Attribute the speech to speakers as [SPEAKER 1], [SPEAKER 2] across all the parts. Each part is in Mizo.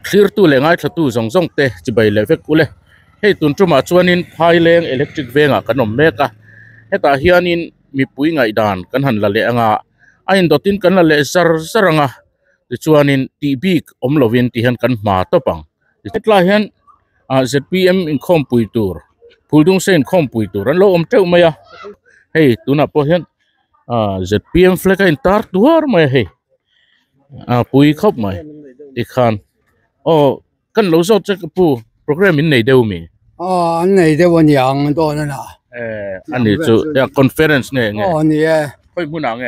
[SPEAKER 1] thlirtu leh ngaithlatu zawng zawng te chi bai leh vek ule hei tun ṭumah chuanin thaileng electric vengah kan awm mek a hetah hianin mipui ngaihdan kan han la leh anga a indawtin kan la leh zar zar ang a tichuanin tih bik awm lovin tih hian kan hma tawp ang hetlaiah hian ah zpm inkhawmpui tur phul dungse inkhawmpui tur an lo awm ṭeuh mai a hei tunah pawh hian-- ah ztm flag a intar duar mai a hei ah pui khawp mai tikhan aw kan lo zawt che ka pu program in nei deuh a mi aw an nei
[SPEAKER 2] deuh a ni ang dawn a lah eh a ni
[SPEAKER 1] chu conference nge enge aw ni e khawi
[SPEAKER 2] hmunah
[SPEAKER 1] nge.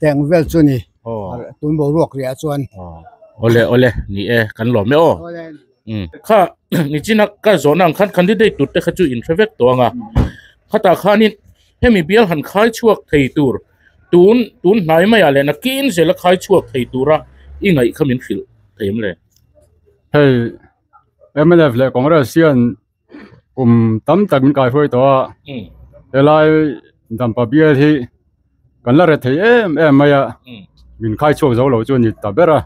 [SPEAKER 2] Teng vel chu ni tun boruak riah chuan awle awle
[SPEAKER 1] ni e kan lawm e aw kha nichina ka zawhna ang khan candidate tur te kha chu in hre vek tawh anga khata khanin hemi bial han khai chhuak thei tur tun tun hnai mai ah leh nakin zela khai chhuak thei tura i ngaih kha min hrilh thei em le hei
[SPEAKER 3] mlf leh congress hian kum tam tak in kaihuai tawh a helai dampa bial hi kan la ret thei em em mai a min khai chhuak zo lo chu a ni ta ber a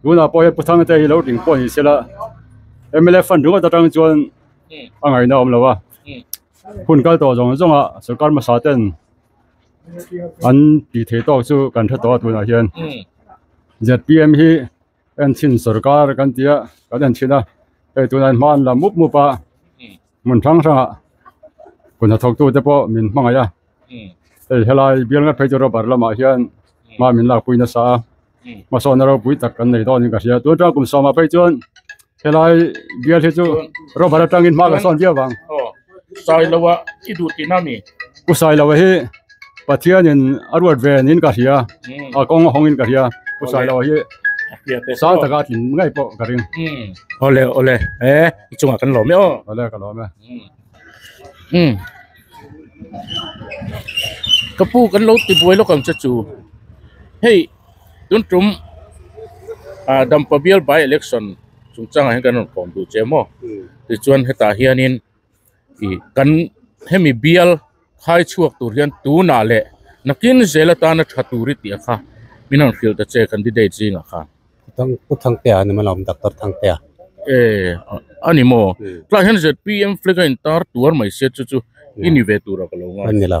[SPEAKER 3] tunah pawh hian pu thangte hi lo ding pawh a ni se la mla fund ringawt atang chuan a ngaihna a awm lo a hun kal tawh zawng zawng a sorkar hmasa ten an tih theih tawk chu kan hre tawh a tunah hian zep hi-- en chhin sawrkar kan tia kan en chhin a hei tuna in hma an la mup mup a hmun hrang hrang ah kun hnathawk tu te pawh min hmangaih a hei helai bial ngat phei tur a bar lam ah hian hma min lakpui nasa a hmasawnna ropui tak kan nei dawn in ka hria tun tang kum sawm ah phei chuan-- helai bial hi chu robber atangin hmaga sawn viau vang aw sailo
[SPEAKER 1] a i duh tihna a ni u sailo hi
[SPEAKER 3] pathianin a ruat ve niin ka hria a kawng a hawngin ka hria u sailo hi sang taka a tling ngei pawh ka ring awle awle
[SPEAKER 1] he i chungah kan lawm e aw awle ka lawm e ka pu kan lo ti buai lawk ang che chu hei Tun tum ah dampa bial by election chung chang ah hian kan rawn khawm duh che maw ti chuan hetah hian in ih kan hemi bial khai chhuak tur hian tunah leh nakin zel atana tha tur i tih ang kha min rawn hrilh ta che candidate zing ah khan. Khawthang Pu Thangtea
[SPEAKER 4] a ni maw lawm Doctor Thangtea? Eh
[SPEAKER 1] a ni maw tlaiah hian zpm flag a in tar tuar mai se chu chu i ni ve tur a ka lo ngai. An ni lo.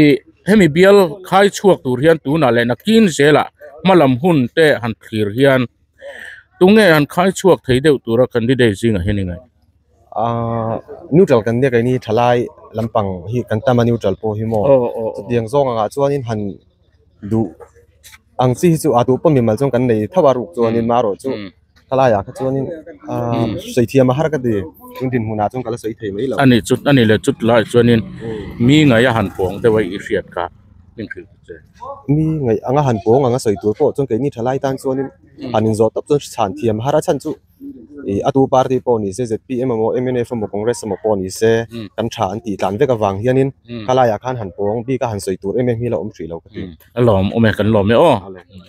[SPEAKER 1] ih hemi bial khai chhuak tur hian tunah leh nakin zelah hma lam hun te han thlir hian tunge an khai chhuak thei deuh tura candidate zingah hian ingaih aaa
[SPEAKER 5] neutral kan biak eng thalai lampang hi kan tam a neutral pawh hi maw aw aw chutiang zawk angah chuanin han duh ang chi hi chu a duh pawh mimal chuan kan nei thauh a ruk chuan mah erawh chu-- ka laiah kha chuanin aaa sawitthiam a har ka ti chung dinhmunah chuan ka la sawi thei mai lo a ni chu a ni leh chutah
[SPEAKER 1] chuanin mi ngaih a han pawng deuh a i hriat kha hnim hrilh ta che mi ngaih anga
[SPEAKER 5] han pawng anga sawi tur pawh chuan keini tha lai tan chuanin han inzawh tawp chuan chhan thiam a har a chhan chu ih atu party pawh ni se zpm emaw mnf emaw congress emaw pawh ni se kan tha an tih tlan vek avang hianin ka laiah khan han pawng bik a han sawi tur em em hi a la awm hrih lo ka ti. a lawm awm e kan
[SPEAKER 1] lawm e aw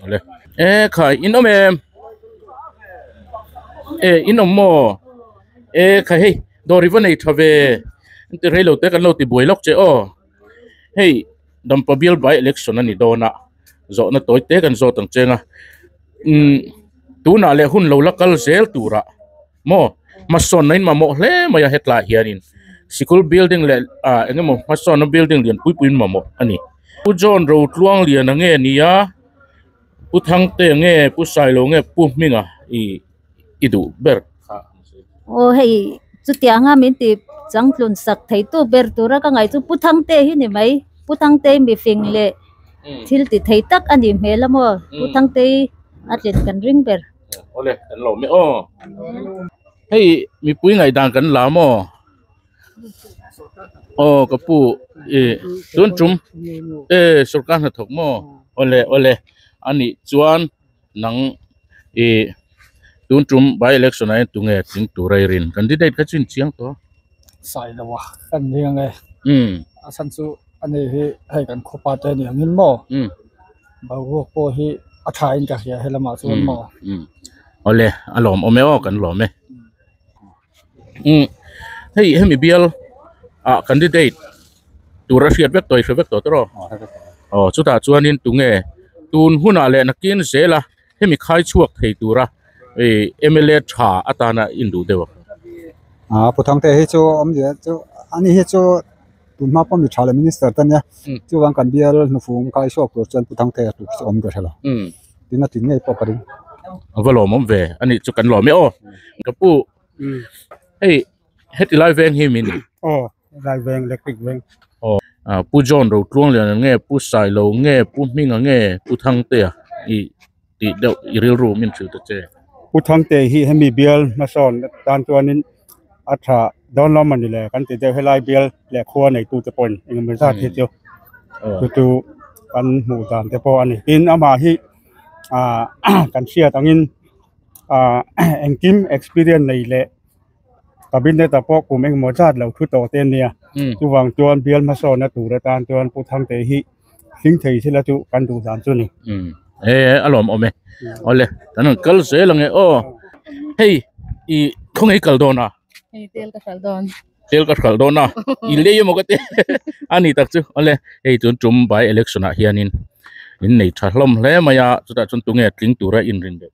[SPEAKER 1] ale e khai in awm em e in awm maw e khai hei dawr i va nei tha ve an ti rei lo te kan lo ti buai lawk che aw hei dampa bial by election a ni dawn a zawhna tawi te kan zawt ang cheng a imm tunah leh hun lo la kal zel turah-- Maw? Hmasawn a inmamawh hle mai a, hetlai hianin sikul building leh ah engemaw hmasawnna building lian pui pui an mamawh a ni. Pu John Rotluangliana nge nia, Pu Thangte nge, Pu Sailo nge, Pu Hminga i duh ber kha a ni. Aw
[SPEAKER 6] hei chutiang nga min tih changtlunsak thei tu ber tura ka ngaih chu Pu Thangte hi ni mai. Pu Thangte hi mifing leh thil ti thei tak a nih hmel a maw? Pu Thangte hi a tlen kan ring ber. Ole kan lo
[SPEAKER 1] me aw hei mipui ngai dan kan la maw aw ka pu i tun tum e sorkar hna thawk maw ole ole ani chuan nang i tun tum by election ah hian tunge thing tur reirin candidate kha chu in chiang tawh a sai lo
[SPEAKER 2] a kan nia nge a chhan chu a nih hi hei kan khawpa te aniang in maw. Boruak pawh hi a tha in ka hria he lamah chuan maw. Umm umm awle
[SPEAKER 1] a lawm awm e aw kan lawm e umm hei hemi bial ah candidate tur a hriat vek tawh a hria vek tawh tawh tawh aw chutah chuan in tunge tun hunah leh nakin zela. Hemi khai chhuak thei tura mla tha atana induh deuh ang. Aa pu
[SPEAKER 7] thangte hi chu awm leh chu ani hi chu tunhma pawh mi tha leh minister te nia chuvang kan bial hnufung khai chhuak tur chuan pu thangte a tluk chu awm reh lo tin a tin ngei pawh ka ring a va lawm awm
[SPEAKER 1] ve ani chu kan lawm e aw ka pu hei heti lai veng hi min aw Raiveng
[SPEAKER 7] electric veng aw a pu
[SPEAKER 1] john ro tluang lian ang nge pu sai lo nge pu hming ang nge pu thang te ah i ti deuh i rilru min hrilh ta che pu thang te hi
[SPEAKER 7] hemi bial hmasawn tan chuan in a tha don lawm ani le kan ti deuh helai bial le khua nei tu te pawh in eng emaw zat hi chu chu chu kan hmu dan te pawh ani tin ama hi a kan hriat ang in a engkim experience nei le cabinet ah pawh kum engemaw zat lo thu tawh te an nia chuvang chuan bial hmasawnna tur atan chuan pu Thangtei hi hling thei zel a chu kan duh dan chu ni he a lawm
[SPEAKER 1] awm e awle kan rawn kal zel ang e aw hei i khawnge kal dawn a hei tel ka hralh dawn tel ka hralh dawn a i lei emaw ka ti a ni tak chu awle hei chu tum by election ah hianin in nei tha hlawm hle mai a chutah chuan tunge tling tura inrin bawk.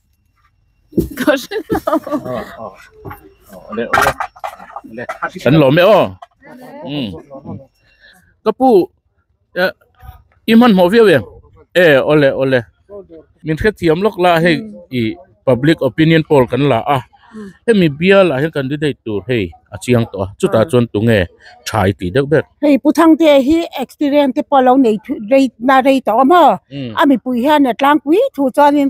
[SPEAKER 1] kan lo me o um ka pu i man mo viau em e ole ole min khe thiam lok la hei i public opinion poll kan la a hemi bial a hian candidate tur hei a chiang tawh a chuta chuan tunge thai ti deuh ber hei pu thangte hi
[SPEAKER 8] experience te pawh a lo nei rei na rei tawh a maw a mipui hian a tlangpui thu chuanin.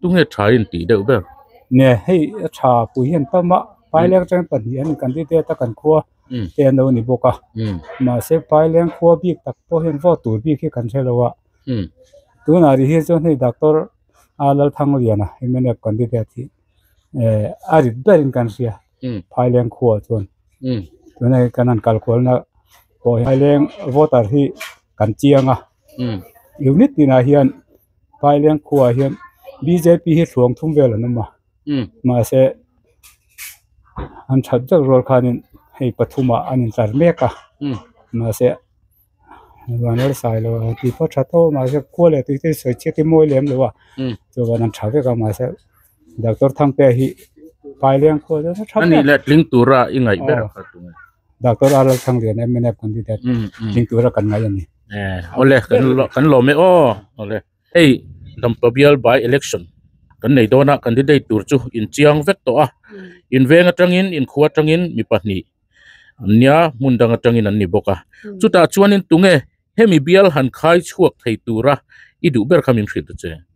[SPEAKER 1] tunge tha in tih deuh ber nge hei
[SPEAKER 7] a tha pui hian ta mah paileng atang hian pahnih an candidate a kan khua te an lo ni bawk a mahse paileng khua bik tak pawh hian vote tur bik hi kan hre lo a tunah ri hi chuan hei doctor a lalthangliana mnf candidate hi ehh a rit ber in kan hria phailenh khua chuan tuna hi kan han kal kual na pawh hian phailenh voter hi kan chiang a unit tinah hian. Thailand khuaah hian BJP hi thluang thum vel an awm a, mahse an that deuh rual khanin hei pathuma an intlar mek a, mahse Ruahner Sailo a tih pawh a that a, mahse khua leh tui te hi sawi chiatin a mawi lem lo a, chuan an tha vek a, mahse Doctor Thangtea hi Thailand khuaah chuan a tha ber a, tling tura
[SPEAKER 1] i ngaih ber a, Doctor Aral
[SPEAKER 7] Thangliana MNF candidate tling tura kan ngaih a ni. eh awle kan
[SPEAKER 1] la kan lawm e aw awle hei dampa bial by election kan nei dawna candidate tur chu inchiang vek tawh a inveng atangin inkhu atangin mi pahnih an nia hmun dang atangin an ni bawk a chutah chuanin tunge hemi bial han khai chhuak thei tura i duh ber kha min hrilh ta che.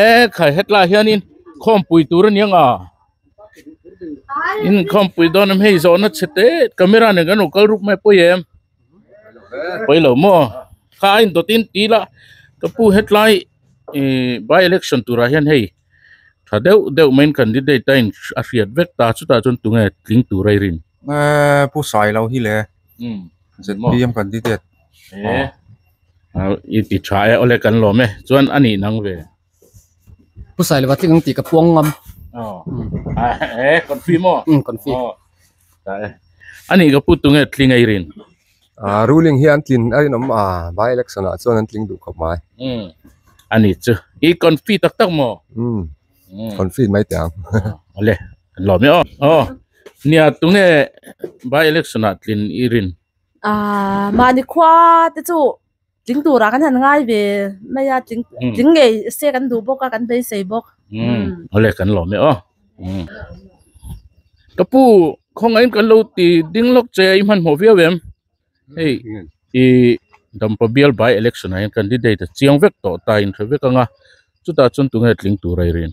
[SPEAKER 1] eee khai hetlai hianin khawmpui tur a ni ang a in khawmpui dawn em hei zawhna chhe te camera nen kan rawn kal ruk mai pawih em pawi lo maw kha a indaw tin ti ila ka pu hetlai ihh by election turah hian hei-- Tha deuh deuh main candidate a in a hriat vek ta chutah chuan tunge tling tur ai rin? Eee pu sai
[SPEAKER 5] lo hi le. Umm. ZPM candidate. Eee.
[SPEAKER 1] I ti tha e awle kan lawm e chuan a nih nang ve.
[SPEAKER 9] Pu sai lova tling ang tih ka puang ngam. Aw. Eee
[SPEAKER 1] confirm aw. Umm confirm. Aw.
[SPEAKER 9] Tah e.
[SPEAKER 1] A nih ka pu tunge tling ai rin? Ahh ruling hi
[SPEAKER 5] an tlin a rinawm a by election ah chuan an tling duh khawp mai umm a ni
[SPEAKER 1] chu i confit tak tak maw umm confit
[SPEAKER 5] mai teh ang a le
[SPEAKER 1] kan lawm e awh aw nia tunge by election ah tlin i rin ahh
[SPEAKER 10] mahni khua te chu-- Tling turah kan han ngai ve mai a, tling tling ngei se kan duh bawk a, kan beisei bawk. Awle kan
[SPEAKER 1] lawm e aw. Ka pu, khawngaih in kan lo ti ding lawk che a, i hmanhmawh viau em? Hei i dampa bial by election ah hian candidate a chiang vek tawh ta in hre vek ang a, chutah chuan tunge tling tur a i rin?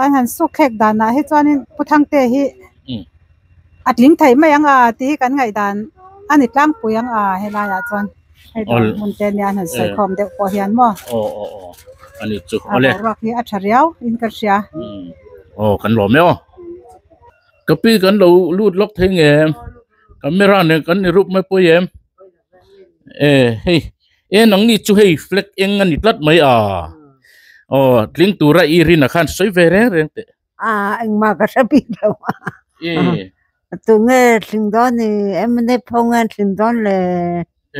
[SPEAKER 8] Ai han sukkhek danah hi chuanin Pu Thangte hi a tling theih mai ang a tih hi kan ngaihdan a ni tlangpui ang a, helaiah chuan hei dawr hmunte nia han sawikhawm deuh pawh hian
[SPEAKER 1] maw, a boruak hi a tha riau in ka hria. Eh hei en ang ni chu hei flag eng a ni tlat mai a aw tling tura i rin ah khan sawi ve reng reng teh a engmah ka
[SPEAKER 8] hre bik lo eh tu nge tling dawn a ni em nep ho nge an tling dawn le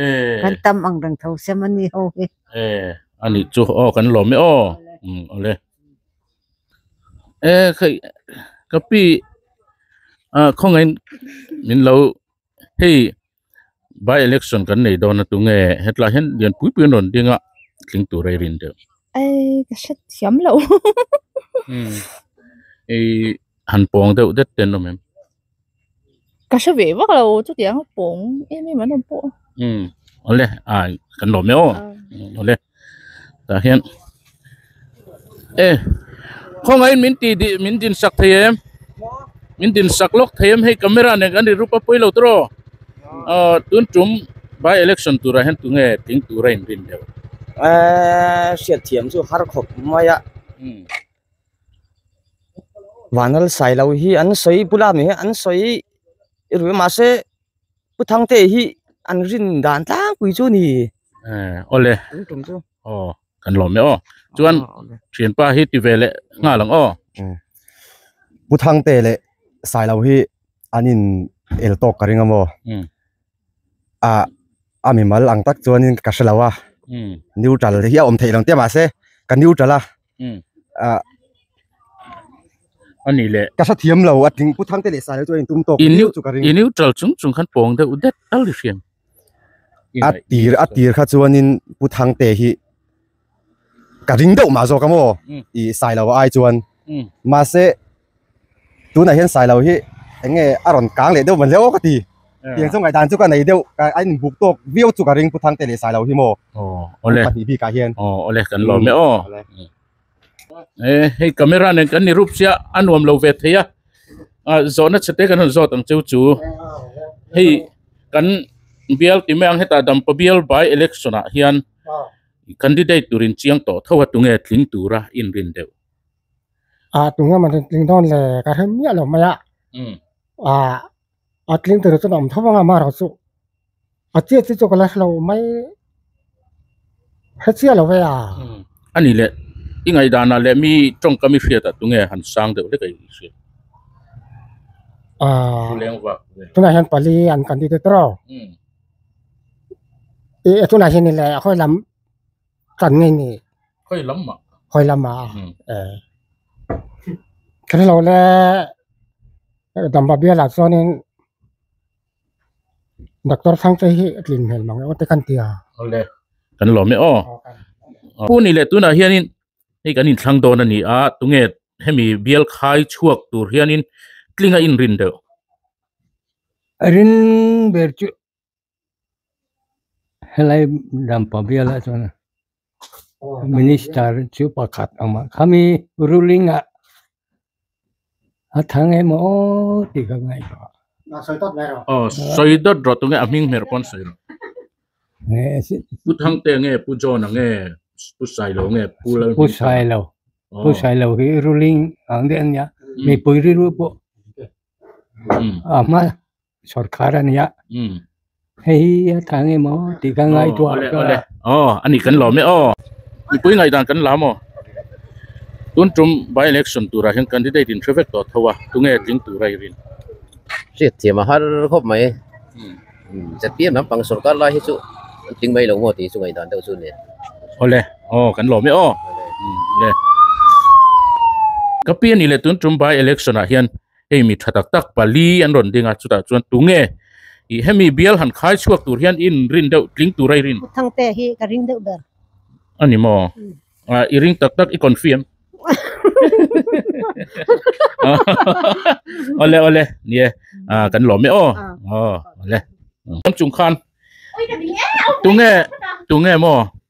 [SPEAKER 8] eh kan tam ang reng tho se mawni ho hi eh a
[SPEAKER 1] nih chu aw kan lawm e aw um awle eh hei ka pi ah khawngahin min lo hei. by election kan nei dawn atu nge hetlai hian lian pui pui an rawn ding a tling tur a i rin tel i han pawng deuh det ten awm em
[SPEAKER 11] awle
[SPEAKER 1] kan lawm em aw awle. tah hian e khawngaih in min ti di min din sak thei em min din sak lawk thei em hei camera nen kan ri rup a pawi lo ta raw aw tun tum by election turah hian tunge tling tur a inrin deuh eee
[SPEAKER 12] hriatthiam chu har khawp mai a vanal sailo hi an sawi bula mi hi an sawi i ruih mahse. Pu Thangte hi an rin dan tlangpui chu ni. Eh, ole.
[SPEAKER 1] Tum tum chu. Oh, kan lo me oh. Chuan thian pa hi ti ve le nga lang oh.
[SPEAKER 5] Pu Thangte le sai lo hi anin el tok ka ring amaw. A a mi mal ang tak chuan in ka hre lo a. Neutral hi a awm thei lo tia mah se ka neutral a.
[SPEAKER 1] a nih leh ka hrethiam lo a tling
[SPEAKER 5] pu thang te leh sahlo chu a intum tawk i neuh chu ka ring i neutral chung chung khan
[SPEAKER 1] pawng deuh det tal i hriam a tir a tir
[SPEAKER 5] kha chuanin pu thang te hi ka ring deuh mah zawk ang aw i sahilo a ai chuan mahse tunah hian sailo hi enge a rawn kang leh deuh mahse aw ka ti tiang chu ngaidan chu ka nei deuh ka a inbuk tawk viau chu ka ring pu thangte leh sailo hi maw aw awle pahnih
[SPEAKER 1] bikah hian aw
[SPEAKER 5] awle kan lawm e aw
[SPEAKER 1] e hei camera nen kan ni rup sia a nuam lo ve thei a a zawhna chhete kan rawn zawt ang chu chu hei kan bial ti mai ang heta dampa bial by election ah hian candidate turin chiang tawh tho a tunge tling tura inrin deuh
[SPEAKER 2] ah tunga man rawn tling dawn le ka hre miah loh mai a ah a
[SPEAKER 13] tling tur chuan a awm tho vang a mah erawh chu a chiah chiah chu ka la hre lo mai hre chiah lo ve a a ni le
[SPEAKER 1] i ngaihdanah leh mi tawngka mi hriatah tunge han sang deuh hlek a i hriat ah khuleng vak ve tunah hian pali
[SPEAKER 13] an kan ti te tawh e tunah hian i le a hawi lam Kan ngai ni. Hoi lam ma.
[SPEAKER 1] Hoi lam ma. Hmm. Eh.
[SPEAKER 13] Kani lo le dam ba bia la chuan in doctor sang che hi tlin hel mang o te kan tia. Ole.
[SPEAKER 1] Kan lo me o. Pu ni le tuna hian in hei kan in thlang don ani a tunge hemi bial khai chuak tur hian in tlinga in rin deuh.
[SPEAKER 14] Rin ber chu helai ram pahbial ah chuan minister chu pakhat awm a khami ruling ah a thang em aww tih ka
[SPEAKER 1] ngaih loh a pu sailo
[SPEAKER 14] pu sailo hi ruling ang deuh ania mipui rilru pawh a hma-- sawrkar a nia hei hi a thang em aw tih ka ngai tuah a awle aw a nih
[SPEAKER 1] kan lawm e aw mipui ngai dan kan la maw tun tum by election tura hian candidate in hre vek tawh tho a tunge tling tura i rin hriat
[SPEAKER 15] thiam a har khawp mai zatiam lam pang sawrkar lai hi chu an tling mai lo maw tih chu ngai dan deuh chu nen awle
[SPEAKER 1] aw kan lawm e aw le ka pi a nih le tun tum by election ah hian hei mi tha tak tak pali an rawn ding a chutah chuan tunge ih hemi bial han khai chhuak tur hian in rin deuh tling tur airin thang te hi ka ring
[SPEAKER 8] deuh ber a ni maw
[SPEAKER 1] ah i ring tak tak i confirm ole ole nie a kan lawm e aw aw ole lam chung khan tunge tunge maw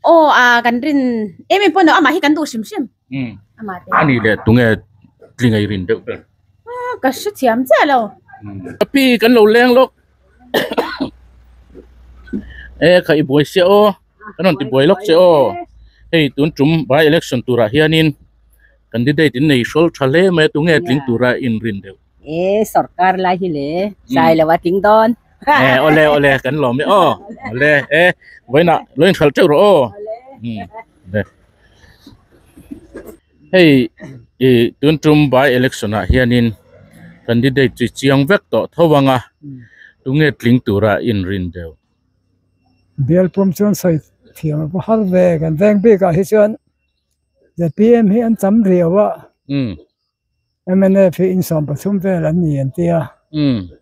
[SPEAKER 1] Aw a
[SPEAKER 16] kan rin em em pawh no amah hi kan duh hrim hrim. Hmm. Amah te. Ani le tunge
[SPEAKER 1] tlingai rin deuh ber. Ah ka hre
[SPEAKER 16] thiam chiah lo. Tapi
[SPEAKER 1] kan lo leng lawk. e kha i buai sia aw. Kan rawn ti buai lawk che aw. Hei tun tum by election turah hianin candidate in nei hrawltha hle mai a tunge tling tura in rin deuh. e sorkar
[SPEAKER 17] lai hi le sai lo a ting don e ole ole
[SPEAKER 1] kan lo mi o ole e voina loin khal cheu ro o de hei i tun tum by election a hianin candidate chi chiang vek to thowanga tunge tling tura in rin deu
[SPEAKER 2] belpum chuan sai thiam a har ve kan veng bik a hi chuan zpm hi an cham riau a MNF hi insawm pathum vel an ni an ti a,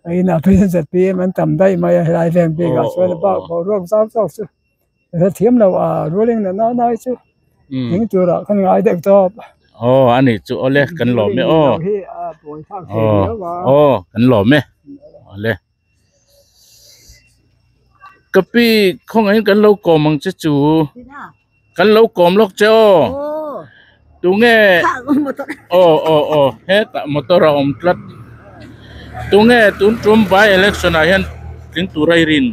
[SPEAKER 2] a inah President ZPM an tam daih mai a, helai veng bikah chuan a bak bo ruak zau zau chu ka hre thiam lo a, ruling na nai nai chu eng turah kan ngai deuh tawp. Aw a nih chu
[SPEAKER 1] awle kan lawm e aw, aw kan lawm e awle. ka pi khaw ngahin kan lo kawm ang che chu kan lo kawm lawk che aw tunge aw aw aw hetah motor a awm tlat tunge tun tum by election ah hian tling tura i rin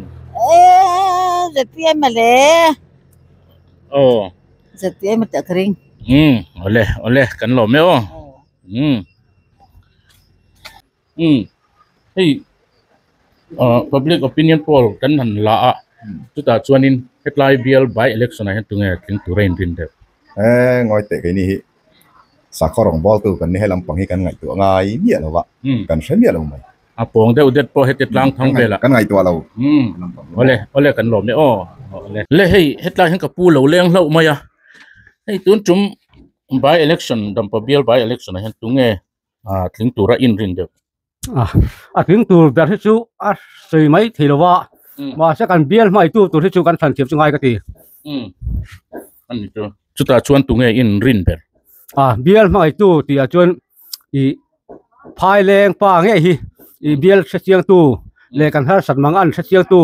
[SPEAKER 17] aw awle
[SPEAKER 1] awle kan lawm e aw. umm hei ahh public opinion poll kan han la a chutah chuanin hetlai bial by election ah hian tunge tling tura in rin deuh eee ngawi teh
[SPEAKER 18] keini hi sakhaw rawngbawl tu kan ni hei lampang hi kan ngaihtuah ngai miah lova umm kan hre miah lo mai a pawng deuh det
[SPEAKER 1] pawh heti tlangthang vel ah kan ngaihtuah lo
[SPEAKER 18] umm awle
[SPEAKER 1] awle kan lawm e aw le hei hetlai hian ka pu lo leng hlauh mai a hei tun tum by election dampa bial by election ah hian tunge ah tling tura inrin deuh a a
[SPEAKER 14] tling tur ber hi chu a sawi mai thei lo va mahse kan bial hmaitu tur hi chu kan thlan thiam chu ngai ka ti
[SPEAKER 1] a ni chu chutah chuan tunge inrin ber a bial
[SPEAKER 14] hmaitu tihah chuan i phaileng pa nge hi i bial hre chiang tu le kan harsat manga an hre chiang tu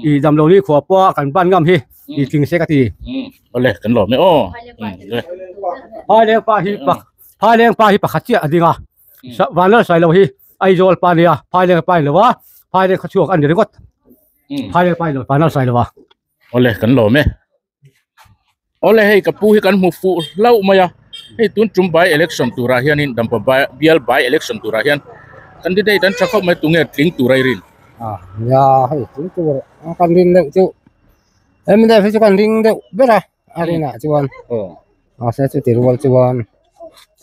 [SPEAKER 14] i
[SPEAKER 19] damlo ni khua pa kan ban ngam hi i tling se ka ti ole kan lo
[SPEAKER 1] me aw phaileng pa hi
[SPEAKER 19] pak Phaileng pa hi pakhat chiah a ding a, Vanlal sailo hi Aizawl pa nia, Phaileng pa ilo a, Phaileng kha chhuak a ni ringawt. Phaileng pa ilo Vanlal sailo a. Ole kan lawm
[SPEAKER 1] e. Ole hei ka pu hi kan hmu fuh hlauh mai a. Hei tun tum by election turah hianin dampa bial by election turah hian candidate an tha khawp mai tunge tling tur ai rin. A nia
[SPEAKER 13] hei tling tur kan rin loh chu MDF hi chu kan ring deuh ber a. a rinah chuan aw mahse chuti rual chuan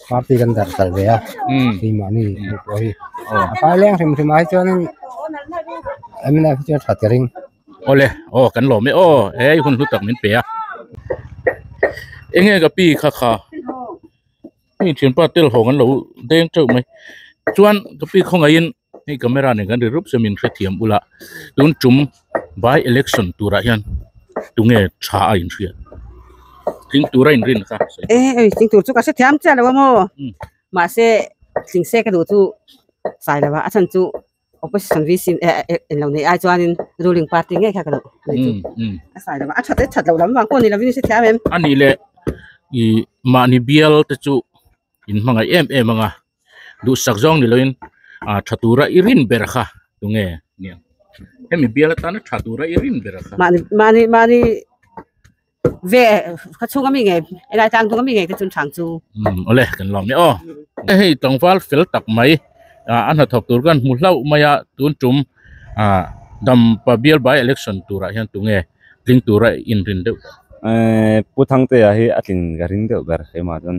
[SPEAKER 13] party kan darh tal ve a keimahni hmuh pawh hi a paileng hrim hrim ah hi chuanin em inah hi chuan tha tê ring awle aw
[SPEAKER 1] kan lawm e aw hei hun hlu tak min pe a eng nge ka pi kha kha hei thianpa tel hawng an lo deng teuh mai chuan ka pi khawngaih in. Hei camera nen kan ri rup chu min hrethiam ula tun tum by election turah hian tunge tha a inhriat tling tura inrin kha e ei tling tur chu ka
[SPEAKER 17] hrethiam che lo mo hmm. ma se tling se ka du chu sai lawa a chan chu opposition vi sin e en lo nei ai chuanin ruling party nge kha ka lo nei chu hmm, a sai lawa a that e that lo lam wang ko ni lo vi se thiam em ani le
[SPEAKER 1] i ma ni bial te chu in hmangaih em em anga duhsak zawng ni loin a tha tura i rin ber kha tu nge ni ang hemi bial atana tha tura i rin ber kha mani mani mani
[SPEAKER 17] ve kha chunga mi nge enai tang tunga mi nge te chun thang chu um ole kan lom
[SPEAKER 1] ni o hei tangwal fel tak mai a an ha thawk tur kan hmu hlau mai a tun tum a dam pa bial by election tura hian tu nge tling tura in rin deuh
[SPEAKER 20] puthangte a hi a tling ka ring deuh ber keimah chuan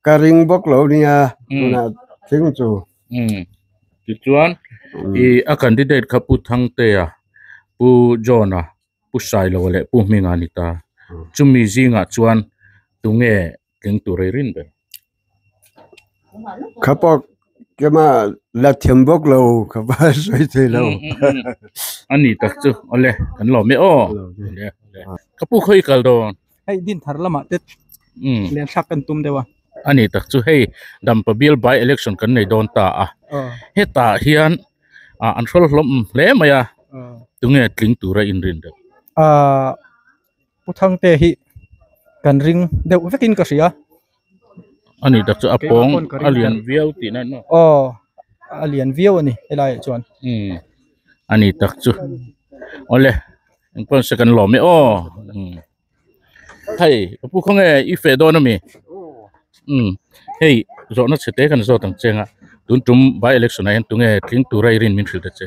[SPEAKER 21] Ka ring bawk lo nia tunah thing chu.
[SPEAKER 1] Tichuan i a candidate kha Pu Thangtea, Pu John-a, Pu Sailova leh Pu Hminga a ni ta. Chumi zingah chuan tunge tling tur rei rin ber?
[SPEAKER 21] Kha pawh kema la thiam bawk lo kha va sawi thei lo. A
[SPEAKER 1] ni tak chu awle kan lo meh aw. Ka pu khaw i kal dawn. hei din thar lamah
[SPEAKER 22] te lian thlak kan tum deuh a a nih tak chu hei
[SPEAKER 1] dan pabial by election kan nei dawn ta a hetah hian ah an hrawlh hlawm hle mai a tunge tling tura inrin reng ah pu
[SPEAKER 22] thangte hi kan ring deuh vekin ka hria. a
[SPEAKER 1] ni taksa a pawng a lian viau tihna an awm aw a lian
[SPEAKER 22] viau a ni helai ah chuan imm a
[SPEAKER 1] ni tak chu awle eng pawh se kan lawm e aw imm hei Apu khawnge i feh dawn ami imm hei zawhna chhe te kan zawt ang cheng a tun tum by election ah hian tunge tling tura i rin min hrilh ta che.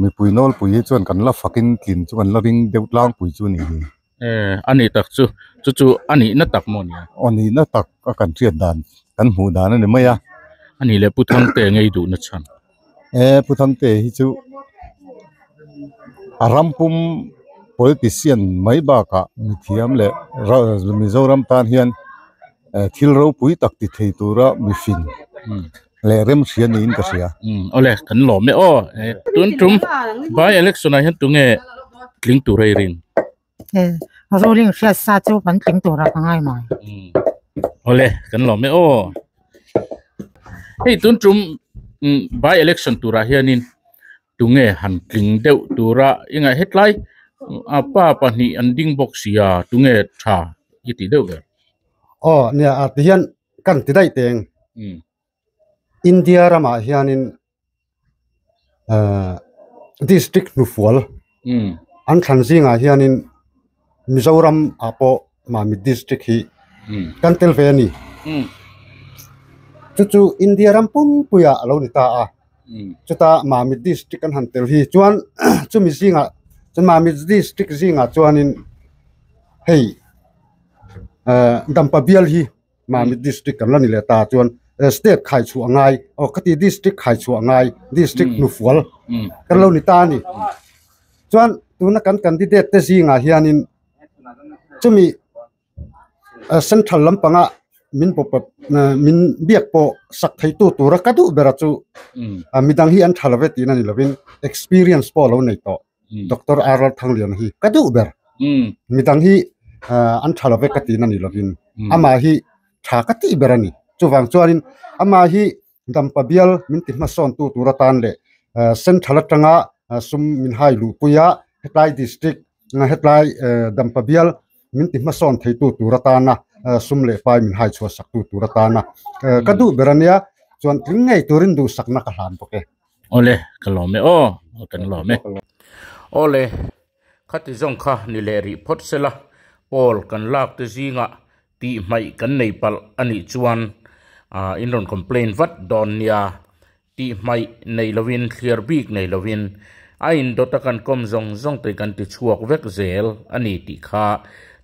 [SPEAKER 18] mipui nawlpui hi chuan kan la fakin tlin chu kan la ring deuh tlangpui chu a ni hi a ni
[SPEAKER 1] tak chu chu chu a nihna tak maw nia aw nihna tak a
[SPEAKER 18] kan hriat dan kan hmuh dan a ni mai a a nih leh pu
[SPEAKER 1] Thangte ngei duhna chhan ee pu Thangte
[SPEAKER 18] hi chu a ram pum politician mai bakah mithiam leh mizoram tan hian thil ropui tak ti thei tura mifin. leh rem hria niin ka hria. Hmm, awle, kan lawm
[SPEAKER 1] e aw. Eh, tun tum, by election ah hian tunge tling tur rei rin? Eh,
[SPEAKER 23] ruling hriat sa chu kan tling tur a ka ngai mai. Hmm. Awle,
[SPEAKER 1] kan lawm e aw. Hei, tun tum, hmm, by election tur ah hianin tunge han tling deuh tura inga hetlai a pa pahnih an ding bawk sia tunge tha i ti deuh ber? Aw, nia,
[SPEAKER 21] ah, tihian Kan ti daih teng India ramah hianin district hnufual an thlan zingah hianin Mizoram ah pawh Mamit district hi kan tel ve a ni. Chu chu India ram pumpuia a lo ni ta a. Chuta Mamit district kan han tel hi chuan chumi zingah Mamit district zingah chuanin hei Dampa bial hi Mahni district kan la ni leh ta chuan state khaichhuah a ngai aw khati district khaichhuah a ngai district hnufual kan lo ni ta a ni chuan tuna kan candidate te zingah hianin chumi central lampanga min min biak pawh sak theitu tura ka duh bera chu midang hi an tha lo ve tihna ni lovin experience pawh a lo nei tawh. Doctor Arwal Thangliana hi ka duh ber. Midang hi an tha lo vek ka tiin a nih lovin amah hi tha ka tih ber a ni. Chuvang chuanin amah hi dampa bial min ti hmasawntu tur atan leh central atanga sum min hai luhpuia hetlai district hetlai dampa bial min ti hmasawn theitu tur atana sum leh pai min hai chhuah saktu tur atana ka duh ber a nia. Chuan tling ngei turin duhsakna ka hlan bawk e. Awle, ka
[SPEAKER 1] lawm e aw, kan lawm e. Awle, khati zawng kha ni leh rih phawt se la, Paul kan lakte zinga tih hmaih kan nei palh a nih chuan in rawn complain vat dawn nia, tih hmaih nei lovin, thliar bik nei lovin a indawt a kan kawm zawng zawng te kan ti chhuak vek zel a ni tih kha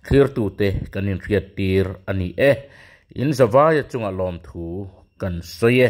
[SPEAKER 1] thlirtu te kan inhriat tir a ni e. In zavaia chunga lawmthu kan sawi e.